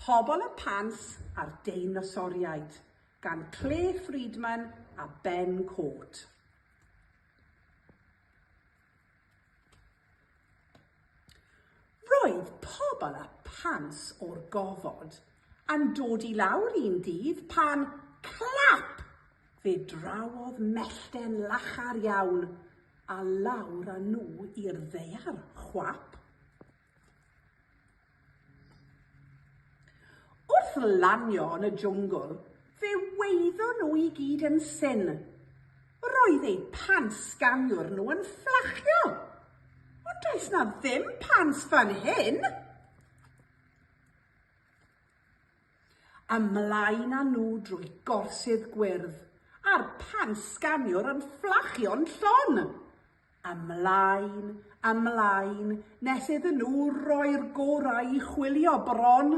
Pobol y Pants a'r Deinosoriaid gan Clare Freedman a Ben Cort. Roedd Pobol y Pants o'r gofod yn dod i lawr un dydd pan clap! Fe drawodd mellten lachar iawn a lawr â nhw i'r ddaear, chwap! Wrth lanio yn y jwngl, fe wyddon nhw i gyd yn syn. Roedd eu pants ganwr nhw yn fflachio. Ond does na ddim pants fan hyn! Ymlaen â nhw drwy gorsydd gwyrdd, a'r pants sganiwr yn fflachio'n llon. Ymlaen, ymlaen, nes iddyn nhw roi'r gorau i chwilio bron.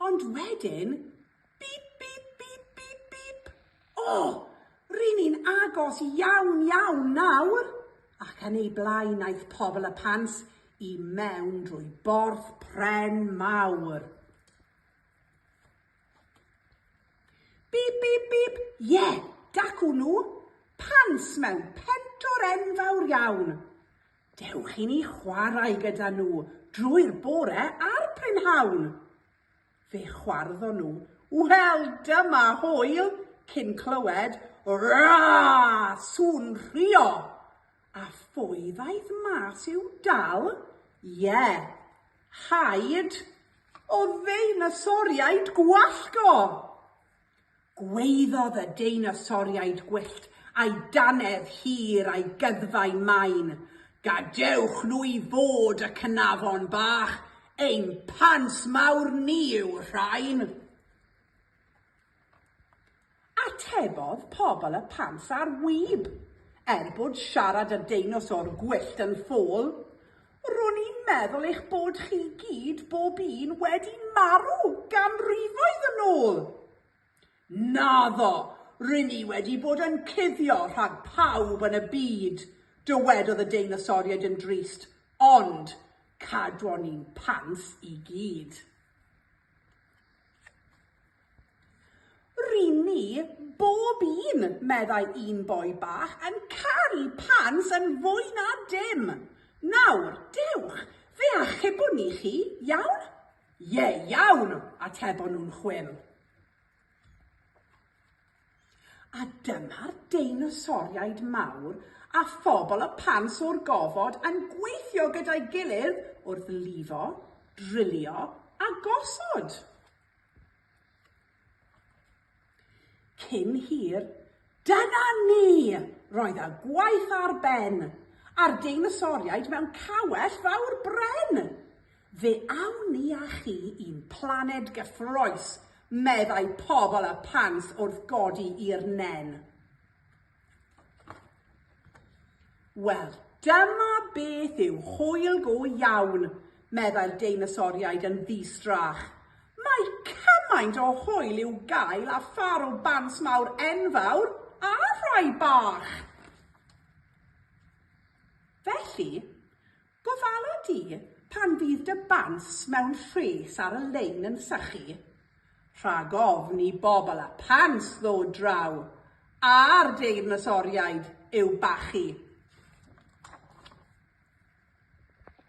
Ond wedyn, bip, bip, bip, bip, bip. O, ryn ni'n agos iawn, iawn nawr. Ac yn ei blaen aeth pobl y pans i mewn drwy borth pren mawr. Bîp bîp bîp, ie, dacw nhw, pants mewn pentwr enfawr iawn. Dewch i ni chwarae gyda nhw drwy'r bore a'r prynhawn. Fe chwarddon nhw, wel, dyma hwyl, cyn clywed, Raaaa! sŵn rhuo. A phwy ddaeth mas i'w dal? Ie! Haid o ddeinasoriaid gwallt o! Gwaeddodd y deinasoriaid gwyllt a'i dannedd hir a'i gyddfau main, Gadewch nhw i fod, y cnafon bach, ein pants mawr ni yw'r rhain! Atebodd pobl y pants ar wib, er bod siarad a deinosor gwyllt yn ffôl, Ro'n i'n meddwl eich bod chi gyd bob un wedi marw ganrifoedd yn ôl! Naddo, rŷn ni wedi bod yn cuddio rhag pawb yn y byd, dywedodd y deinosoriaid yn drist, ond cadwon ni'n pants i gyd. Ry'n ni, bob un, meddai un boi bach, yn caru pants yn fwy na dim. Nawr, dewch, fe achubwn ni chi, iawn? Ie, iawn, atebon nhw'n chwil. A dyma'r deinosoriaid mawr a phobl y pants o'r gofod yn gweithio gyda'i gilydd wrth lifo, drilio a gosod. Cyn hir, dyna ni! Roedd y gwaith ar ben, a'r deinosoriaid mewn cawell fawr bren! Fe awn ni â chi i'n planed gyffrous, meddai pobl y Pants wrth godi i'r nen. Wel, dyma beth yw hwyl go iawn, meddai'r deinosoriaid yn ddi-strach. Mae cymaint o hwyl i'w gael â phâr o bants mawr enfawr a rhai bach! Felly, Gofala di pan fydd dy bants mewn rhes ar y lein yn sychu. Rhag ofn i bobl â phants ddod draw a'r deinosoriaid i'w bachu.